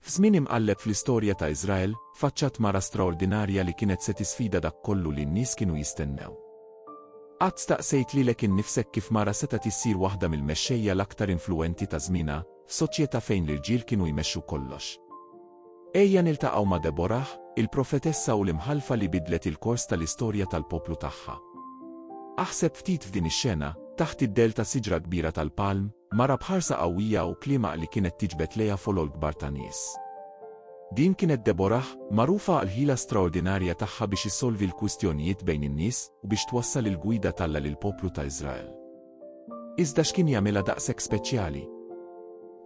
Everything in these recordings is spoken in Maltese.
F'żmien imqalleb fl-istorja ta' Iżrael, faċċat mara straordinarja li kienet se tisfida dak kollu li n-nies kienu jistennew. Qatt staqsejt lilek innifsek kif mara setgħet issir waħda mill-mexxejja l-aktar influwenti ta' żmienha, f'soċjetà fejn l-irġiel kienu jmexxu kollox? Ejja niltaqgħu ma' Deborah, il-profetessa u l-imħallfa li bidlet il-kors tal-istorja tal-poplu tagħha. Aħseb ftit f'din ix-xena, taħt id-dell ta' siġra kbira tal-palm, Mara b'ħarsa qawwija u kliemaq li kienet tiġbed lejha folol kbar ta' nies. Din kienet Deborah, magħrufa għall-ħila straordinarja tagħha biex issolvi l-kwistjonijiet bejn in-nies u biex twassal il-gwida t'Alla lill-poplu ta' Iżrael. Iżda x'kien jagħmilha daqshekk speċjali?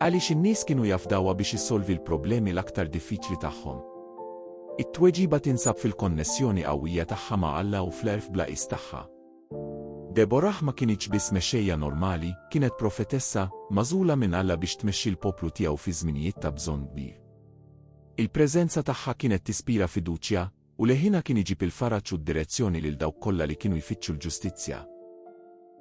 Għaliex in-nies kienu jafdawha biex issolvi l-problemi l-aktar diffiċli tagħhom? It-tweġiba tinsab fil-konnessjoni qawwija tagħha ma' Alla u fl-għerf bla qies tagħha. Deborah ma kinitx biss mexxejja normali, kienet profetessa, magħżula minn Alla biex tmexxi l-poplu tiegħu fi żminijiet ta' bżonn kbir. Il-preżenza tagħha kienet tispira fiduċja, u leħinha kien iġib il-faraġ u d-direzzjoni lil dawk kollha li kienu jfittxu l-ġustizzja.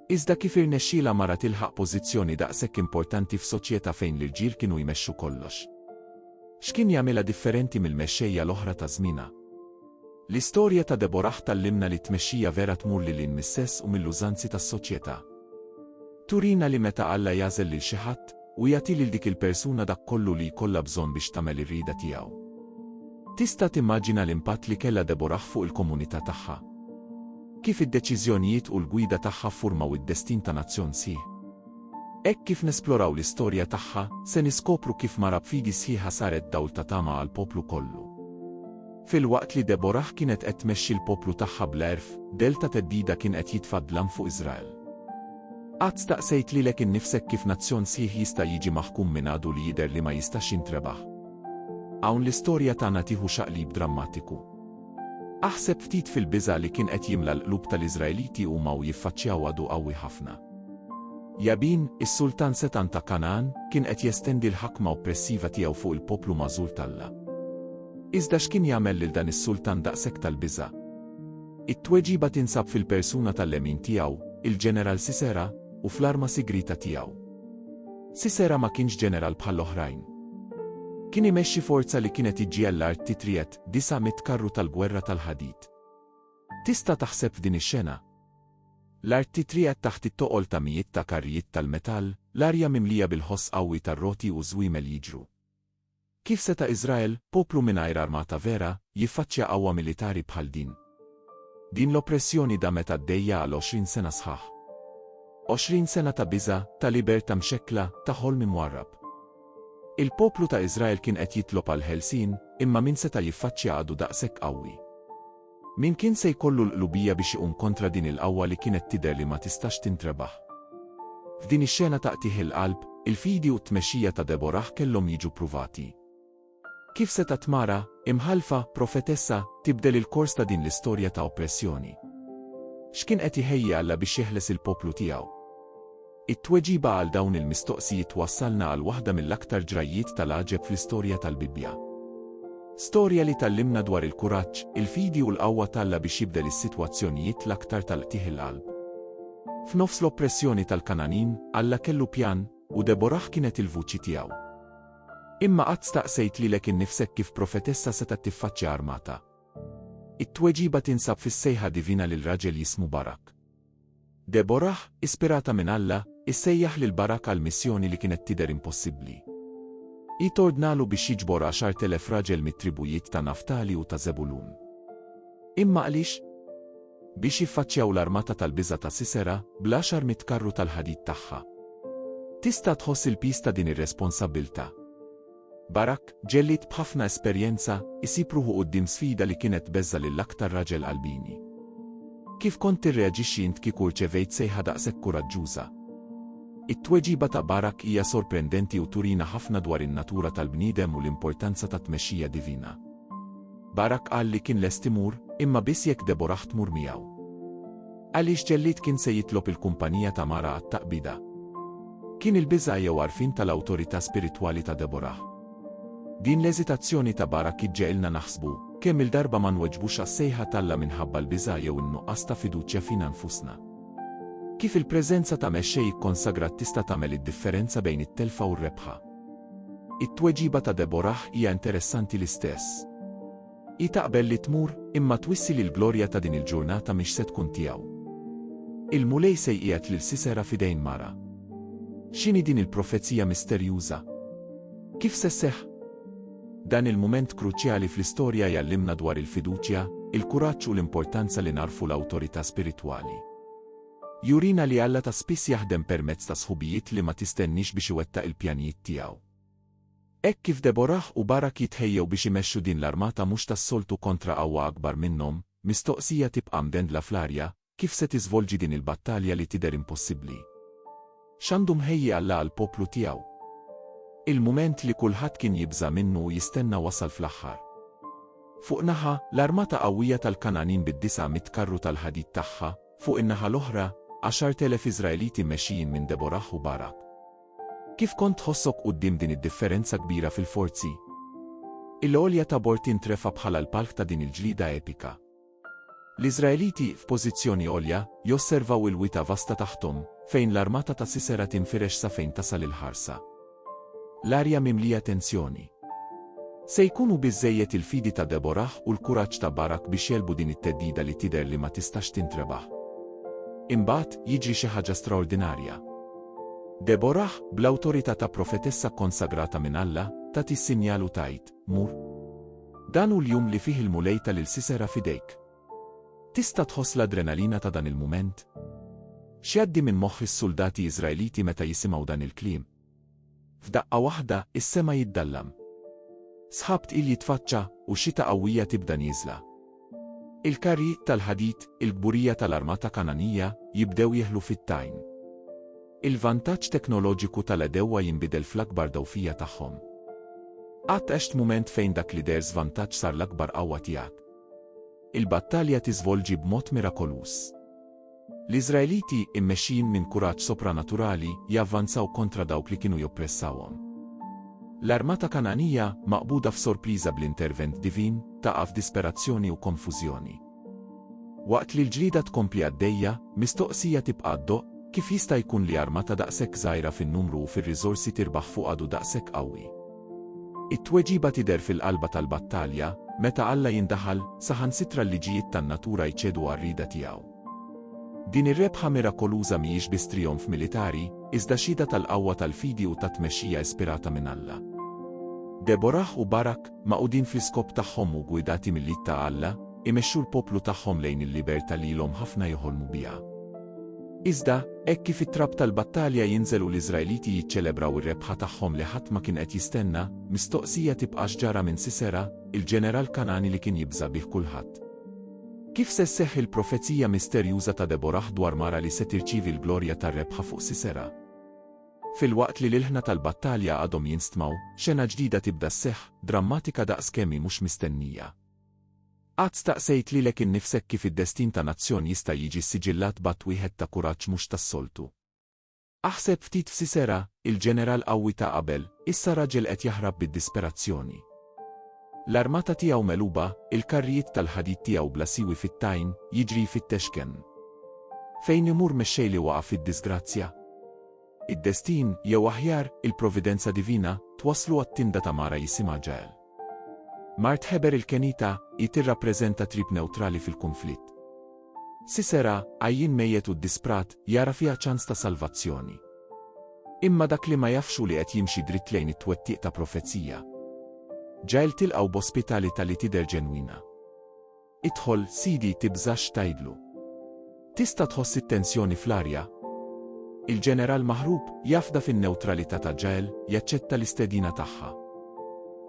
Iżda kif irnexxielha mara tilħaq pożizzjoni daqshekk importanti f'soċjetà fejn l-irġiel kienu jmexxu kollox? X'kien jagħmilha differenti mill-mexxejja l-oħra ta' żmienha? L-istorja ta' Deborah tgħallimna li t-tmexxija vera tmur lil hinn mis-sess u mill-użanzi tas-soċjetà. Turina li meta Alla jagħżel lil xi ħadd, hu jagħti lil dik il-persuna dak kollu li jkollha bżonn biex tagħmel ir-rieda tiegħu. Tista' timmaġina l-impatt li kellha Deborah fuq il-komunità tagħha? Kif id-deċiżjonijiet u l-gwida tagħha ffurmaw id-destin ta' nazzjon sħiħ? Hekk kif nesploraw l-istorja tagħha, se niskopru kif mara b'fidi sħiħa saret dawl ta' tama għall-poplu kollu. Filwaqt li Deborah kienet qed tmexxi l-poplu tagħha bla għerf, dell ta' theddida kien qed jitfa' d-dlam fuq Iżrael. Qatt staqsejt lilek innifsek kif nazzjon sħiħ jista' jiġi maħkum minn għadu li jidher li ma jistax jintrebaħ? Hawn l-istorja tagħna tieħu xaqlib drammatiku. Aħseb ftit fil-biża' li kien qed jimla l-qlub tal-Iżraeliti huma u jiffaċċjaw għadu qawwi ħafna. Jabin, is-sultan setgħan ta' Kangħan, kien qed jestendi l-ħakma oppressiva tiegħu fuq il-poplu magħżul t'Alla. Iżda x'kien jagħmel lil dan is-sultan daqshekk tal-biża'? It-tweġiba tinsab fil-persuna tal-lemin tiegħu, il-ġeneral Sisera, u fl-arma sigrieta tiegħu. Sisera ma kienx ġeneral bħall-oħrajn. Kien imexxi forza li kienet iġġiegħel l-art titriet, disa' mitt karru tal-gwerra tal-ħadid. Tista' taħseb f'din ix-xena? L-art titriet taħt it-toqol ta' mijiet ta' karrijiet tal-metall, l-arja mimlija bil-ħoss qawwi tar-roti u żwiemel jiġru. Kif seta' Iżrael, poplu mingħajr armata vera, jiffaċċja qawwa militari bħal din? Din l-oppressjoni damet għaddejja għal għoxrin sena sħaħ. Għoxrin sena ta' biża', ta' libertà mxekkla, ta' ħolm imwarrab. Il-poplu ta' Iżrael kien qed jitlob għall-ħelsien, imma min seta' jiffaċċja għadu daqshekk qawwi? Min kien se jkollu l-qlubija biex iqum kontra din il-qawwa li kienet tidher li ma tistax tintrebaħ? F'din ix-xena ta' qtigħ il-qalb, il-fidi u t-tmexxija ta' Deborah kellhom jiġu pruvati. Kif setgħet mara, imħallfa, profetessa, tibdel il-kors ta' din l-istorja ta' oppressjoni? X'kien qed iħejji Alla biex jeħles il-poplu tiegħu? It-tweġiba għal dawn il-mistoqsijiet twassalna għal waħda mill-aktar ġrajjiet tal-għaġeb fl-istorja tal-Bibbja. Storja li tgħallimna dwar il-kuraġġ, il-fidi u l-qawwa t'Alla biex jibdel is-sitwazzjonijiet l-aktar tal-qtigħ il-qalb. F'nofs l-oppressjoni tal-Kananin, Alla kellu pjan, u Deborah kienet il-vuċi tiegħu. Imma qatt staqsejt lilek innifsek kif profetessa setgħet tiffaċċja armata. It-tweġiba tinsab fis-sejħa divina lil raġel jismu Barak. Deborah, ispirata minn Alla, issejjaħ lil Barak għal missjoni li kienet tidher impossibbli. Hi tordnalu biex jiġbor għaxart elef raġel mit-tribujiet ta' Naftali u ta' Żebulun. Imma għaliex? Biex jiffaċċjaw l-armata tal-biża' ta' Sisera, bl-għaxar mitt karru tal-ħadid tagħha. Tista' tħoss il-piż ta' din ir-responsabbiltà? Barak, ġellied b'ħafna esperjenza, isib ruħu quddiem sfida li kienet tbeżża' lill-aktar raġel qalbini. Kif kont tirreaġixxi int kieku rċevejt sejħa daqshekk kuraġġuża? It-tweġiba ta' Barak hija sorprendenti u turina ħafna dwar in-natura tal-bniedem u l-importanza tat-tmexxija divina. Barak qal li kien lest imur, imma biss jekk Deborah tmur miegħu. Għaliex ġellied kien se jitlob il-kumpanija ta' mara għat-taqbida? Kien il-biża' jew għarfien tal-awtorità spiritwali ta' Deborah? Din l-eżitazzjoni ta' Barak iġġegħilna naħsbu, Kemm-il darba ma nweġbux għas-sejħa t'Alla minħabba l-biża' jew in-nuqqas ta' fiduċja fina nfusna? Kif il-preżenza ta' mexxej ikkonsagrat tista' tagħmel id-differenza bejn it-telfa u r-rebħa? It-tweġiba ta' Deborah hija interessanti l-istess. Hi taqbel li tmur, imma twissi li l-glorja ta' din il-ġurnata mhix se tkun tiegħu. Il-Mulej se jqiegħed lil Sisera f'idejn mara. X'inhi din il-profezija misterjuża? Kif se sseħħ? Dan il-mument kruċjali fl-istorja jgħallimna dwar il-fiduċja, il-kuraġġ u l-importanza li narfu l-awtorità spiritwali. Jurina li Alla ta' spiss jaħdem permezz ta' sħubijiet li ma tistenniex biex iwettaq il-pjanijiet tiegħu. Hekk kif Deborah u Barak jitħejjew biex imexxu din l-armata mhux tas-soltu kontra qawwa akbar minnhom, mistoqsija tibqa' mdendla fl-arja, kif se tiżvolġi din il-battalja li tidher impossibbli? X'għandu mħejji Alla għall-poplu tiegħu? Il-mument li kulħadd kien jibża' minnu u jistenna wasal fl-aħħar. Fuq naħa, l-armata qawwija tal-Kangħanin bid-disgħa mitt karru tal-ħadid tagħha, fuq in-naħa l-oħra, għaxart elef Iżraeliti mmexxijin minn Deborah u Barak. Kif kont tħossok quddiem din id-differenza kbira fil-forzi? Il-għolja Tabor tintrefa' bħala l-palk ta' din il-ġlieda epika. L-Iżraeliti, f'pożizzjoni għolja, josservaw il-wita vasta taħthom, fejn l-armata ta' Sisera tinfirex sa fejn tasal il-ħarsa. L-arja mimlija tensjoni. Se jkunu biżżejjed il-fidi ta' Deborah u l-kuraġġ ta' Barak biex jegħlbu din it-theddida li tidher li ma tistax tintrebaħ. Imbagħad, jiġri xi ħaġa straordinarja. Deborah, bl-awtorità ta' profetessa kkonsagrata minn Alla, tat is-sinjal u tgħid, Mur. Dan hu l-jum li fih il-Mulej ta lil Sisera f'idejk. Tista' tħoss l-adrenalina ta' dan il-mument? X'jgħaddi minn moħħ is-suldati Iżraeliti meta jisimgħu dan il-kliem? F'daqqa waħda, is-sema jiddallam. Sħab tqil jitfaċċa, u xita qawwija tibda nieżla. Il-karrijiet tal-ħadid, il-kburija tal-armata Kangħanija, jibdew jeħlu fit-tajn. Il-vantaġġ teknoloġiku tal-għedewwa jinbidel fl-akbar dgħufija tagħhom. Qatt għext mument fejn dak li deher żvantaġġ sar l-akbar qawwa tiegħek? Il-battalja tiżvolġi b'mod mirakoluż. L-Iżraeliti, immexxijin minn kuraġġ sopranaturali, javvanzaw kontra dawk li kienu joppressawhom. L-armata Kangħanija, maqbuda f'sorpriża bl-intervent divin, taqa' f'disperazzjoni u konfużjoni. Waqt li l-ġlieda tkompli għaddejja, mistoqsija tibqa' ddoqq, Kif jista' jkun li armata daqshekk żgħira fin-numru u fir-riżorsi tirbaħ fuq għadu daqshekk qawwi? It-tweġiba tidher fil-qalba tal-battalja, meta Alla jindaħal, saħansitra l-liġijiet tan-natura jċedu għar-rieda tiegħu. Din ir-rebħa mirakoluża mhijiex biss trijonf militari, iżda xhieda tal-qawwa tal-fidi u tat-tmexxija ispirata minn Alla. Deborah u Barak, magħqudin fl-iskop tagħhom u ggwidati mill-id ta' Alla, imexxu l-poplu tagħhom lejn il-libertà li ilhom ħafna joħolmu biha. Iżda, hekk kif it-trab tal-battalja jinżel u l-Iżraeliti jiċċelebraw ir-rebħa tagħhom li ħadd ma kien qed jistenna, mistoqsija tibqa' x'ġara minn Sisera, il-ġeneral Kangħani li kien jibża' bih kulħadd. Kif se sseħħ il-profezija misterjuża ta' Deborah dwar mara li se tirċievi l-glorja tar-rebħa fuq Sisera? Filwaqt li l-ilħna tal-battalja għadhom jinstmgħu, xena ġdida tibda sseħħ, drammatika daqs kemm hi mhux mistennija. Qatt staqsejt lilek innifsek kif id-destin ta' nazzjon jista' jiġi ssiġillat b'att wieħed ta' kuraġġ mhux tas-soltu? Aħseb ftit f'Sisera, il-ġeneral qawwi ta' qabel, issa raġel qed jaħrab bid-disperazzjoni. L-armata tiegħu megħluba, il-karrijiet tal-ħadid tiegħu bla siwi fit-tajn, jiġri jfittex kenn. Fejn imur mexxej li waqa' fid-diżgrazzja? Id-destin, jew aħjar, il-providenza divina, twasslu għat-tinda ta' mara jisimha Ġael. Mart Heber il-Kenita, hi tirrappreżenta trib newtrali fil-kunflitt. Sisera, għajjien mejjet u ddisprat, jara fiha ċans ta' salvazzjoni. Imma dak li ma jafx hu li qed jimxi dritt lejn it-twettiq ta' profezija. Ġael tilqgħu b'ospitalità li tidher ġenwina. Idħol, Sidi, tibżax tgħidlu. Tista' tħoss it-tensjoni fl-arja? Il-Ġeneral maħrub, jafda fin-newtralità ta' Jael, jaċċetta l-istedina tagħha.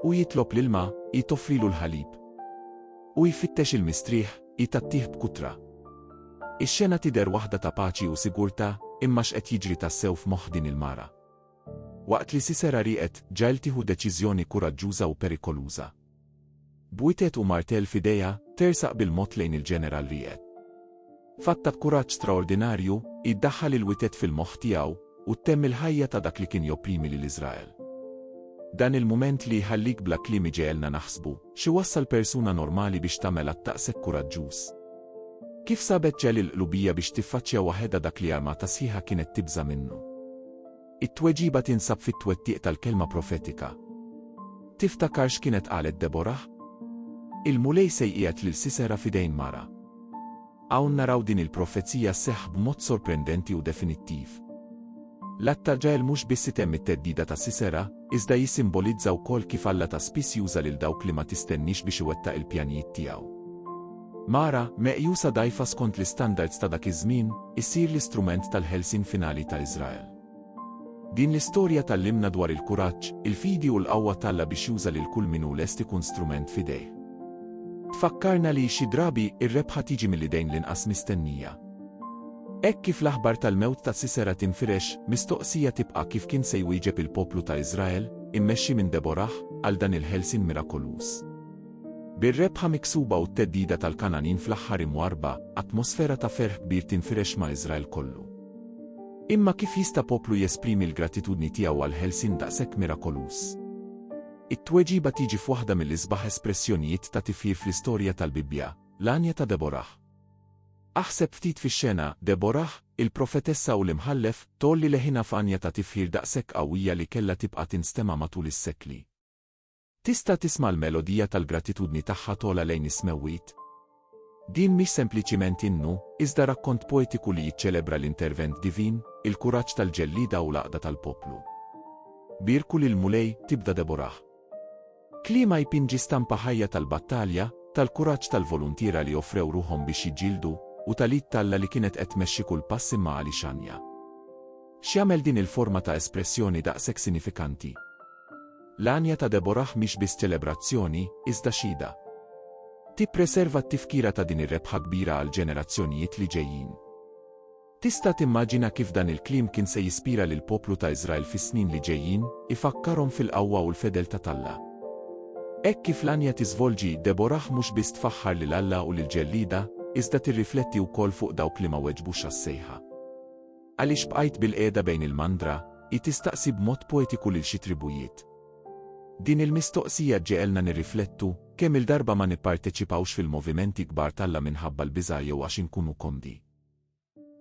Hu jitlob l-ilma, hi toffrilu l-ħalib. Hu jfittex il-mistrieħ, hi tagħtih b'kutra. Ix-xena tidher waħda ta' paċi u sigurtà, imma x'qed jiġri tassew f'moħħ din il-mara? Waqt li Sisera rieqed, Jael tieħu deċiżjoni kuraġġuża u perikoluża. B'witet u martell f'idejha, tersaq bil-mod lejn il-Ġeneral Ried. F'atta b'kuraġġ straordinarju, hi ddaħħal il-witet fil-moħħ tiegħu, u ttemm il-ħajja ta' dak li kien jopprimi lil Iżrael. Dan il-mument li jħallik bla kliem iġegħelna naħsbu, x'iwassal persuna normali biex tagħmel att daqshekk kuraġġuż? Kif sabet ġell il-qlubija biex tiffaċċja waħedha dak li armata sħiħa kienet tibża' minnu? It-tweġiba tinsab fit-twettiq tal-kelma profetika. Tiftakar x'kienet qalet Deborah? Il-Mulej se jqiegħed lil Sisera f'idejn mara. Hawn naraw din il-profezija sseħħ b'mod sorprendenti u definittiv. L-att ta' Ġael mhux biss itemm it-theddida ta' Sisera, iżda jissimbolizza wkoll kif Alla ta' spiss juża lil dawk li ma tistenniex biex iwettaq il-pjanijiet tiegħu. Mara, meqjusa dgħajfa skont l-istandards ta' dak iż-żmien, issir l-istrument tal-ħelsien finali ta' Iżrael. Din l-istorja tgħallimna dwar il-kuraġġ, il-fidi u l-qawwa t'Alla biex juża lil kull min hu lest ikun strument f'idejh. Tfakkarna li, xi drabi, ir-rebħa tiġi mill-idejn l-inqas mistennija. Hekk kif l-aħbar tal-mewt ta' Sisera tinfirex, mistoqsija tibqa' kif kien se jwieġeb il-poplu ta' Iżrael, immexxi minn Deborah, għal dan il-ħelsien mirakoluż. Bir-rebħa miksuba u t-theddida tal-Kangħanin fl-aħħar imwarrba, atmosfera ta' ferħ kbir tinfirex ma' Iżrael kollu. Imma kif jista' poplu jesprimi l-gratitudni tiegħu għal ħelsien daqshekk mirakoluż? It-tweġiba tiġi f'waħda mill-isbaħ espressjonijiet ta' tifħir fl-istorja tal-Bibbja, l-għanja ta' Deborah. Aħseb ftit fix-xena, Deborah, il-profetessa u l-imħallef, tgħolli leħinha f'għanja ta' tifħir daqshekk qawwija li kellha tibqa' tinstema' matul is-sekli. Tista' tisma' l-melodija tal-gratitudni tagħha togħla lejn is-smewwiet? Din mhix sempliċiment innu, iżda rakkont poetiku li jiċċelebra l-intervent divin, il-kuraġġ tal-ġellieda u l-għaqda tal-poplu. Bierku lill-Mulej, tibda Deborah. Kliema jpinġi stampa ħajja tal-battalja, tal-kuraġġ tal-voluntiera li offrew ruħhom biex jiġġieldu, u tal-id t'Alla li kienet qed tmexxi kull pass imma għali xanja. X'jagħmel din il-forma ta' espressjoni daqshekk sinifikanti? L-għanja ta' Deborah mhix biss ċelebrazzjoni, iżda xhieda. Tippreserva t-tifkira ta' din ir-rebħa kbira għall-ġenerazzjonijiet li ġejjin. Tista' timmaġina kif dan il-kliem kien se jispira lill-poplu ta' Iżrael fis-snin li ġejjin, ifakkarhom fil-qawwa u l-fedeltà t'Alla. Hekk kif l-għanja tiżvolġi, Deborah mhux biss tfaħħar lil Alla u lill-ġellieda, iżda tirrifletti wkoll fuq dawk li ma weġbux għas-sejħa. Għaliex bqajt bilqiegħda bejn il-mandra? hi tistaqsi b'mod poetiku lil xi tribujiet. Din il-mistoqsija ġġegħelna nirriflettu, kemm il-darba ma nipparteċipawx fil-movimenti kbar t'Alla minħabba l-biża' jew għax inkunu komdi.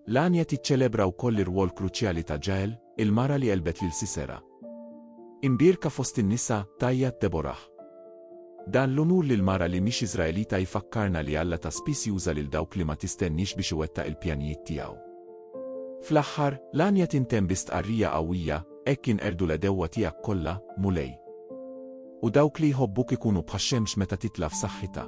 L-għanja tiċċelebra wkoll ir-rwol kruċjali ta' Ġael, il-mara li għelbet lil Sisera. Imbierka fost in-nisa, tgħajjat Deborah. Dan l-unur lil mara li mhix Iżraelita jfakkarna li Alla ta' spiss juża lil dawk li ma tistenniex biex iwettaq il-pjanijiet tiegħu. Fl-aħħar, l-għanja tintemm bi stqarrija qawwija, Hekk jinqerdu l-għedewwa tiegħek kollha, Mulej. U dawk li jħobbuk ikunu bħax-xemx meta titla' f'saħħitha.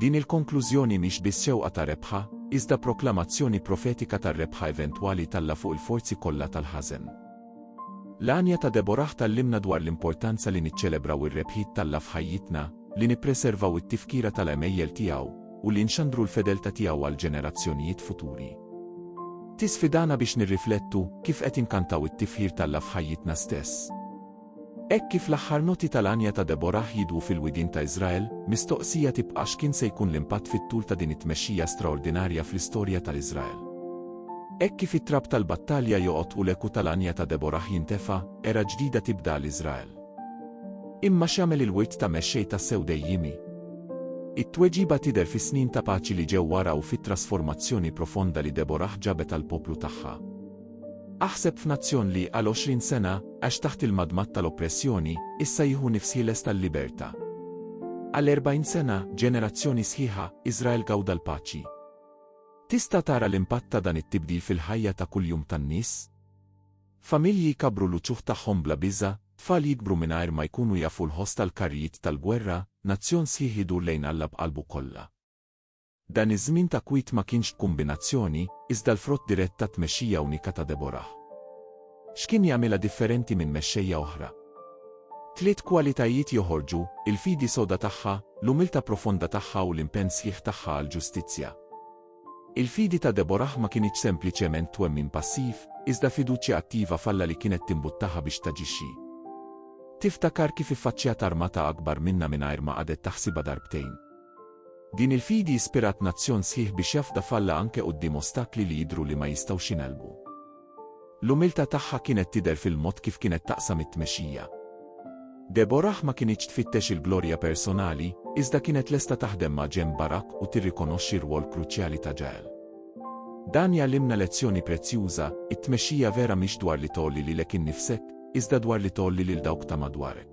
Din il-konklużjoni mhix biss xewqa ta' rebħa, iżda proklamazzjoni profetika tar-rebħa eventwali t'Alla fuq il-forzi kollha tal-ħażen. L-għanja ta' Deborah tgħallimna dwar l-importanza li niċċelebraw ir-rebħiet t'Alla f'ħajjitna, li nippreservaw it-tifkira tal-għemejjel tiegħu, u li nxandru l-fedeltà tiegħu għall-ġenerazzjonijiet futuri. Tisfidana biex nirriflettu kif qed inkantaw it-tifħir t'Alla f'ħajjitna stess. Hekk kif l-aħħar noti tal-għanja ta' Deborah jidwu fil-widien ta' Iżrael, mistoqsija tibqa' x'kien se jkun l-impatt fit-tul ta' din it-tmexxija straordinarja fl-istorja ta' Iżrael. Hekk kif it-trab tal-battalja joqgħod u l-eku tal-għanja ta' Deborah jintefa', era ġdida tibda għal Iżrael. Imma x'jagħmel il-wirt ta' mexxej tassew dejjiemi? It-tweġiba tidher fis-snin ta' paċi li ġew wara u fit-trasformazzjoni profonda li Deborah ġabet għall-poplu tagħha. Aħseb f'nazzjon li, għal għoxrin sena, għax taħt il-madmad tal-oppressjoni, issa jieħu nifs ħieles tal-libertà. Għal erbgħin sena, ġenerazzjoni sħiħa, Iżrael gawda l-paċi. Tista' tara l-impatt ta' dan it-tibdil fil-ħajja ta' kuljum tan-nies? Familji jkabbru l-uċuħ tagħhom bla biża', tfal jikbru mingħajr ma jkunu jafu l-ħoss tal-karrijiet tal-gwerra, nazzjon sħiħ idur lejn Alla b'qalbu kollha. Dan iż-żmien ta' kwiet ma kienx b'kumbinazzjoni, iżda l-frott dirett tat-tmexxija unika ta' Deborah. X'kien jagħmilha differenti minn mexxejja oħra? Tliet kwalitajiet joħorġu, il-fidi soda tagħha, l-umiltà profonda tagħha u l-impenn sħiħ tagħha għall-ġustizzja. Il-fidi ta' Deborah ma kinitx sempliċement twemmin passiv, iżda fiduċja attiva f'Alla li kienet timbuttaha biex taġixxi. Tiftakar kif iffaċċjat armata akbar minnha mingħajr ma qagħdet taħsibha darbtejn. Din il-fidi ispirat nazzjon sħiħ biex jafda f'Alla anke quddiem ostakli li jidhru li ma jistgħux jingħelbu. L-umiltà tagħha kienet tidher fil-mod kif kienet taqsam it-tmexxija. Deborah ma kinitx tfittex il-glorja personali, iżda kienet lesta taħdem ma' ġenb Barak u tirrikonoxxi r-rwol kruċjali ta' Ġael. Dan jgħallimna lezzjoni prezzjuża, it-tmexxija vera mhix dwar li tgħolli lilek innifsek, iżda dwar li tgħolli lil dawk ta' madwarek.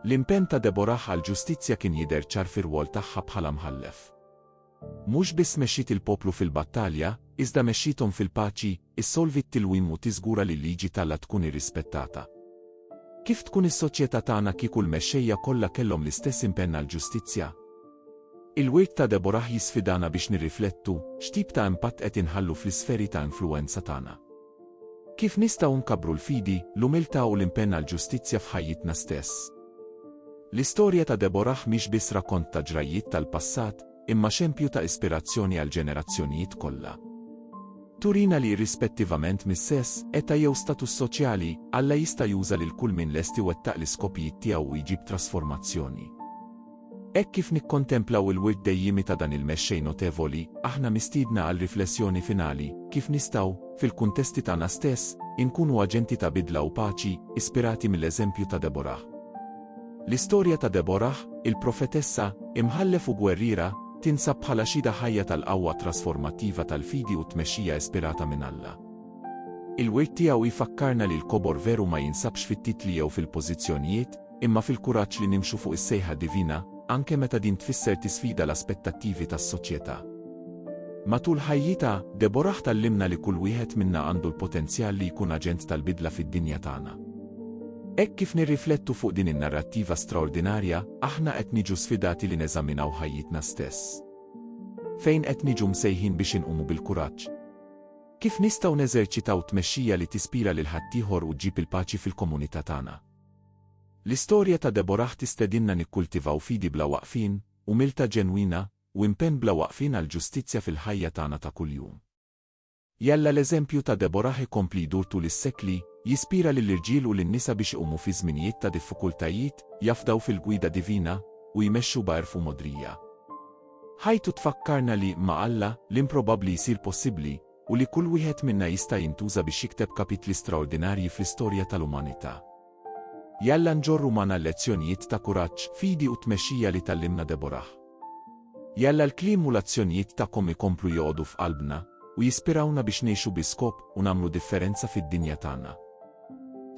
L-impenn ta' Deborah għall-ġustizzja kien jidher ċar fir-rwol tagħha bħala mħallef. Mhux biss mexxiet il-poplu fil-battalja, iżda mexxiethom fil-paċi, issolvi t-tilwim u tiżgura li l-liġi t'Alla tkun irrispettata. Kif tkun is-soċjetà tagħna kieku l-mexxejja kollha kellhom l-istess impenn għall-ġustizzja? Il-wirt ta' Deborah jisfidana biex nirriflettu x'tip ta' impatt qed inħallu fl-isferi ta' influwenza tagħna. Kif nistgħu nkabbru l-fidi, l-umiltà u l-impenn għall-ġustizzja f'ħajjitna stess? L-istorja ta' Deborah mhix biss rakkont ta' ġrajjiet tal-passat, imma xempju ta' ispirazzjoni għall-ġenerazzjonijiet kollha. Turina li irrispettivament mis-sess, età jew status soċjali, Alla jista' juża lil kull min lest iwettaq l-iskopijiet tiegħu u jġib trasformazzjoni. Hekk kif nikkontemplaw il-wirt dejjiemi ta' dan il-Mexxej notevoli, aħna mistiedna għal riflessjoni finali, kif nistgħu, fil-kuntesti tagħna stess, inkunu aġenti ta' bidla u paċi, ispirati mill-eżempju ta' Deborah? L-istorja ta' Deborah, il-profetessa, imħallef u gwerriera, tinsab bħala xhieda ħajja tal-qawwa trasformattiva tal-fidi u t-tmexxija ispirata minn Alla. Il-wirt tiegħu jfakkarna li l-kobor veru ma jinsabx fit-titli jew fil-pożizzjonijiet, imma fil-kuraġġ li nimxu fuq is-sejħa divina, anke meta din tfisser tisfida l-aspettattivi tas-soċjetà. Matul ħajjitha, Deborah tgħallimna li kull wieħed minna għandu l-potenzjal li jkun aġent tal-bidla fid-dinja tagħna. Hekk kif nirriflettu fuq din in-narrattiva straordinarja, aħna qed niġu sfidati li neżaminaw ħajjitna stess. Fejn qed niġu msejħin biex inqumu bil-kuraġġ? Kif nistgħu neżerċitaw tmexxija li tispira lil ħaddieħor u ġġib il-paċi fil-komunità tagħna? L-istorja ta' Deborah tistedinna nikkultivaw fidi bla waqfien, umiltà ġenwina, u impenn bla waqfien għall-ġustizzja fil-ħajja tagħna ta' kuljum. Jalla l-eżempju ta' Deborah ikompli jdur tul is-sekli, jispira lill-irġiel u lin-nisa biex iqumu fi żminijiet ta' diffikultajiet, jafdaw fil-gwida divina, u jmexxu b'għerf u mogħdrija. Ħajtu tfakkarna li, ma' Alla, l-improbabbli jsir possibbli, u li kull wieħed minna jista' jintuża biex jikteb kapitli straordinarji fl-istorja tal-umanità. Jalla nġorru magħna l-lezzjonijiet ta' kuraġġ, fidi u tmexxija li tgħallimna Deborah. Jalla l-kliem u l-azzjonijiet tagħkom ikomplu joqogħdu f'qalbna u jispirawna biex ngħixu bi skop u nagħmlu differenza fid-dinja tagħna.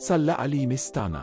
Sal-laqgħa li jmiss tagħna.